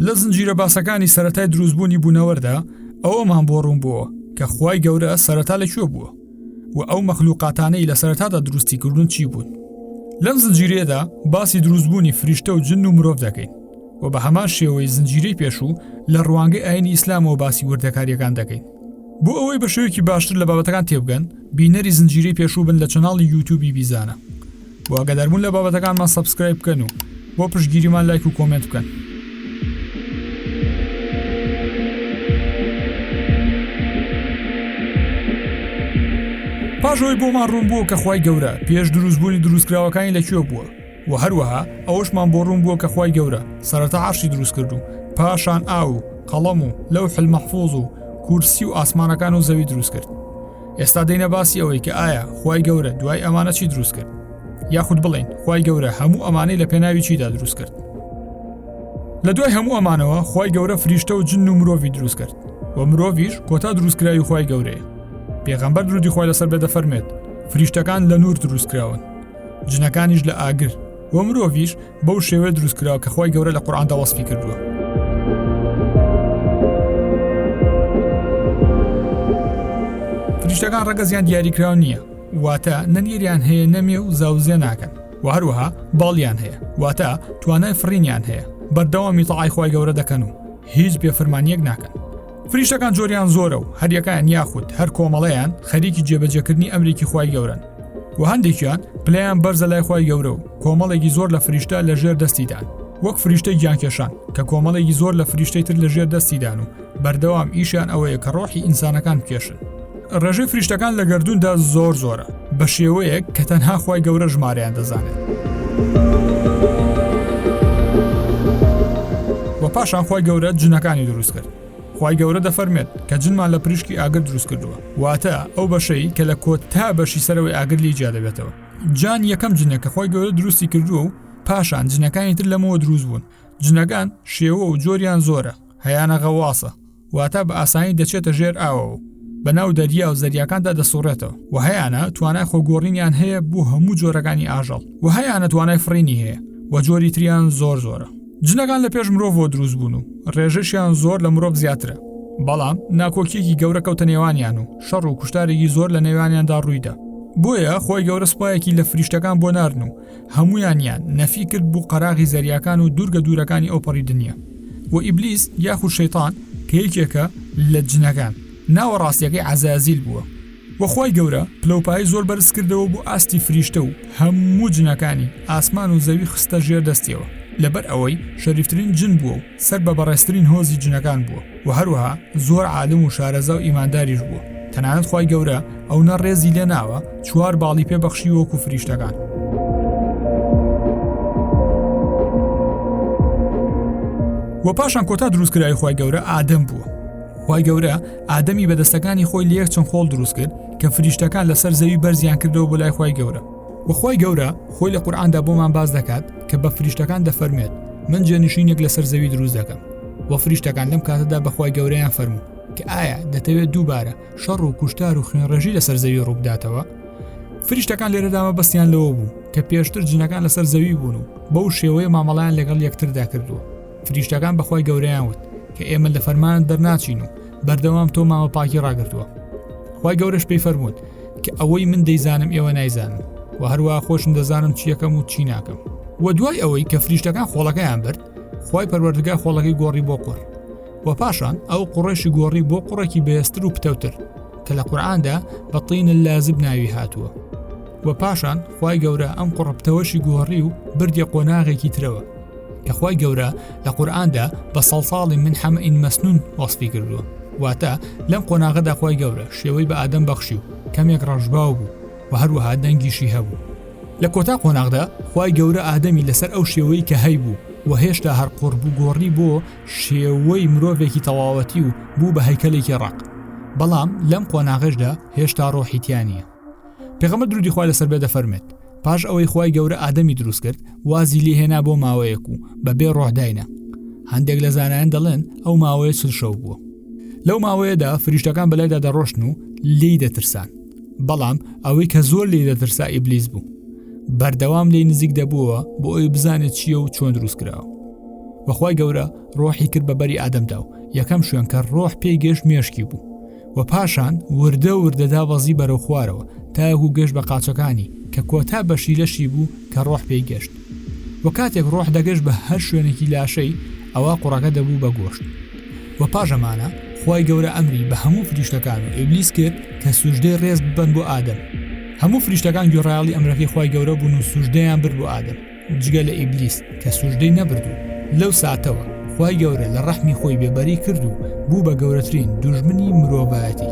لە زنجیرە باسەکانی سەتای دروستبوونی بوونەوەردا ئەوەمان بۆ ڕوون بووە کە خوای گەورە سەرەتا لە کوێ بووە و ئەو مەخلوقاتانەی لە سەرتادا دروستی کردون چی بوون لەم زنجیرێدا باسی دروستبوونی فریشتە و جن و مرۆڤ دەکەین و بە هەمان شێوەی زنجیرەی پێشوو لە ڕوانگەی ئاینی ئیسلامەوە باسی وردەکاریەکان دەکەین بۆ ئەوەی بە شێوکی باشتر لە بابەتەکان تێبگەن بینەری زنجیری پێشوو بن لە چەناڵی یوتوبی بیزانە بۆگە دەربوون لە بابەتەکانمان سبسکرایب بکەن و بۆ پشگیریمان لایک و کۆمنت بکەن پاشەوەی بۆمان ڕوون بووە کە خی گەورە پێش دروستبوونی دروستکراوەکانی لەکوێ بووە وە هەروەها ئەوەشمان بۆ ڕوون بووە کە خوای گەورە سەرەتا عەرشی دروست کرد و پاشان ئاو و قەڵەم و لەوح المەحفوظ و کورسی و ئاسمانەکان و زەوی دروست کرد ئێستا دەینە باسی ئەوەی کە ئایا خوای گەورە دوای ئەمانە چی دروست کرد یاخود بڵین خوای گەورە هەموو ئەمانەی لە پێناوی چیدا دروست کرد لە دوای هەموو ئەمانەوە خوای گەورە فریشتە و جن و مرۆڤی دروست کرد و مرۆڤیش کۆتا دروستکراوی خوای گەورەیە پێغەمبەر درودی خۆی لەسەر بێدە فەرمێت فریشتەکان لە نور دروستکراون جنەکانیش لە ئاگر وە مرۆڤش بەو شێوێ دروستکراوە کە خۆی گەورە لە قڕان داوەسپی کردووە. فریشتەکان ڕەگەزیان دیاریکراو نییە واتە نەنیریان هەیە نەمێ و زاوزێ ناکەن و هەروەها باڵیان هەیە واتە توانای فڕینیان هەیە بەردەوامی تەعای خۆی گەورە دەکەن و هیچ بێفرمانیەک ناکەن فریشتەکان جۆریان زۆرە و هەریەکان یاخود هەر کۆمەڵەیان خەریکی جێبەجێکردنی ئەمریکی خی گەورن و هەندێکیان پلیان بەرزە لای خی گەورە و کۆمەڵێکی زۆر لە فریشتە لە ژێر دەستیدان وەک فریشتە گیانکێشان کە کۆمەڵێکی زۆر لە فریشتەی تر لە ژێر دەستیدان و بەردەوام ئیشیان ئەوەیە کە ڕۆحی ئینسانەکان بکێشن ڕێژەی فریشتەکان لە گردوندا زۆر زۆرە بە شێوەیەک کە تەنها خی گەورە ژمارەیان دەزانێت وە پاشان خی گەورە جنەکانی دروست کرد خوای گەورە دەفەرمێت کە جنمان لە پریشکی ئاگر دروست کردووە واتە ئەو بەشەی کە لە کۆت تا بەشی سەرەوەی ئاگر لی جیا دەبێتەوە جان یەکەم جنە کە خۆی گەورە دروستی کردووە و پاشان جنەکانی تر لەمەوە دروست بوون جنەکان شێوە و جۆریان زۆرە هەیانە غەواسە واتا بە ئاسانی دەچێتە ژێر ئاوە و بە ناو دەریا و زەریاکاندا دەسوڕێتەوە و هەیانە توانای خۆگۆڕینیان هەیە بۆ هەموو جۆرەکانی ئاژەڵ و هەیانە توانای فڕینی هەیە و جۆری تریان زۆر زۆرە جلەکان لە پێش مرۆڤەوە دروست بوون و ڕێژەشیان زۆر لە مرۆڤ زیاترە بەڵام ناکۆکیەکی گەورە کەوتە نێوانیان و شەڕ و کوشتارێکی زۆر لە نێوانیاندا ڕوویدا بۆیە خۆی گەورە سوپایەکی لە فریشتەکان بۆ نارن و هەمویانیان نەفی کرد بوو قەراغی زەریاکان و دوورگە دوورەکانی ئەوپەڕی دنیا و ئیبلیس یاخود شەیتان کە یەکێکە لە جنەکان ناوە ڕاستیەکەی عزازیل بووە وە خوای گەورە پلەوپای زۆر بەرز کردەوە بۆ ئاستی فریشتە و هەموو جنەکانی ئاسمان و زەوی خستە ژێر دەستیەوە لەبەر ئەوەی شەریفترین جن بووە و سەر بە بەڕێزترین هۆزی جنەکان بووە وە هەروەها زۆر عالم و شارەزا و ئیمانداریش بووە تەنانەت خوای گەورە ئەونە ڕێزی لێ ناوە چوار باڵی پێ بەخشی وەکو فریشتەکان. وە پاشان کۆتا دروست کرای خوای گەورە ئادەم بووە خوای گەورە ئادەمی بە دەستەکانی خۆی لە یەک چەند خۆڵ دروست کرد کە فریشتەکان لەسەر زەوی بەرزیان کردەوە بۆ لای خی گەورە وخۆی گەورە خۆی لە قورآاندا بۆمان باز دەکات کە بە فریشتەکان دەفەرمێت من جێنشینێک لەسەر زەوی دروست دەکەم و فریشتەکان لەم کاتەدا بەخوای گەورەیان فەرموو کە ئایا دەتەوێت دووبارە شەڕ و کوشتار و خوێنڕێژی لەسەر زەوی ڕووبداتەوە فریشتەکان لێرەدامە بەستیان لەوە بوو کە پێشتر جنەکان لەسەر زەوی بوون و بەو شێوەیە مامەڵیان لەگەڵ یەکتردا کردووە فریشتەکان بە خۆی گەورەیان وت کە ئێمە لە فەرمان دەرناچین و بەردەوام تۆ ماوە پاکی ڕاگرتووە خی گەورەش پێی فەرمووت کە ئەوەی من دەیزانم ئێوە نایزانن و هەروە خۆشم دەزانم چیەکەم و چی ناکەم و دوای ئەوەی کە فریشتەکان خۆڵەکەیان برد خی پەروەردگا خۆڵەکەی گۆڕی بۆ قڕ و پاشان ئەو قڕێشی گۆڕی بۆ قڕێکی بەێستر و پتەوتر کە لە قورآاندا بە تینە لازب ناوی هاتووە و پاشان خی گەورە ئەم قڕپتەوەشی گۆڕی و بردە قۆناغێکی ترەوە کە خی گەورە لە قورآاندا بە سەڵساڵی من حەمە ئین مەسنون وەسپی کردووە واتە لەم قۆناغەدا خی گەورە شێوەی بە ئادەم بەخشی و کەمێک ڕژباو بوو و هەروەها دەنگیشی هەبوو لە کۆتا قۆناغدا خی گەورە ئادەمی لەسەر ئەو شێوەی کە هەی بوو و هێشتا هەر قۆڕبوو گۆڕی بۆ شێوەی مرۆڤێکی تەواوەتی و بوو بە هەیکەلێکی ڕق بەڵام لەم قۆناغشدا هێشتا ڕۆحیتیانە پێغەمە درودی خوا لەسەر بێ دەفەرمێت پاش ئەوەی خی گەورە ئادەمی دروست کرد وازی لێهێنا بۆ ماوەیەک و بەبێ ڕۆحداینە هەندێک لە زانایان دەڵێن ئەو ماوەیە سل شەو بووە لەو ماوەیەدا فریشتەکان بەلایدا دەڕۆشتن و لی دەترسان بەڵام ئەوەی کە زۆر لی دەترسا ئیبلیس بوو بەردەوام لی نزیک دەبووە بۆ ئەوی بزانێت چییە و چۆن دروست کراوە بەخوای گەورە ڕۆحی کرد بە بەری ئادەمدا و یەکەم شوێنکە ڕۆح پێی گەشت مێشکی بوو و پاشان وردە وردە دابەزی بەرەو خوارەوە تاوەکو گەشت بە قاچەکانی کە کۆتا بەشی لەشی بوو کە ڕۆح پێی گەشت و کاتێک ڕۆح دەگەشت بە هەر شوێنێکی لاشەی ئەوە قوڕەکە دەبوو بە گۆشت و پاژەمانە خی گەورە ئەمری بە هەموو فریشتەکان و ئیبلیس کرد کە سوژدەی ڕێز ببن بۆ ئادەم هەموو فریشتەکان گوێڕایاڵی ئەمرەکەی خی گەورە بوون و سوژدەیان برد بۆ ئادەم جگە لە ئیبلیس کە سوژدەی نەبرد و لەو ساتەوە خی گەورە لە ڕەحمی خۆی بێبەری کرد و بوو بە گەورەترین دوژمنی مرۆڤایەتی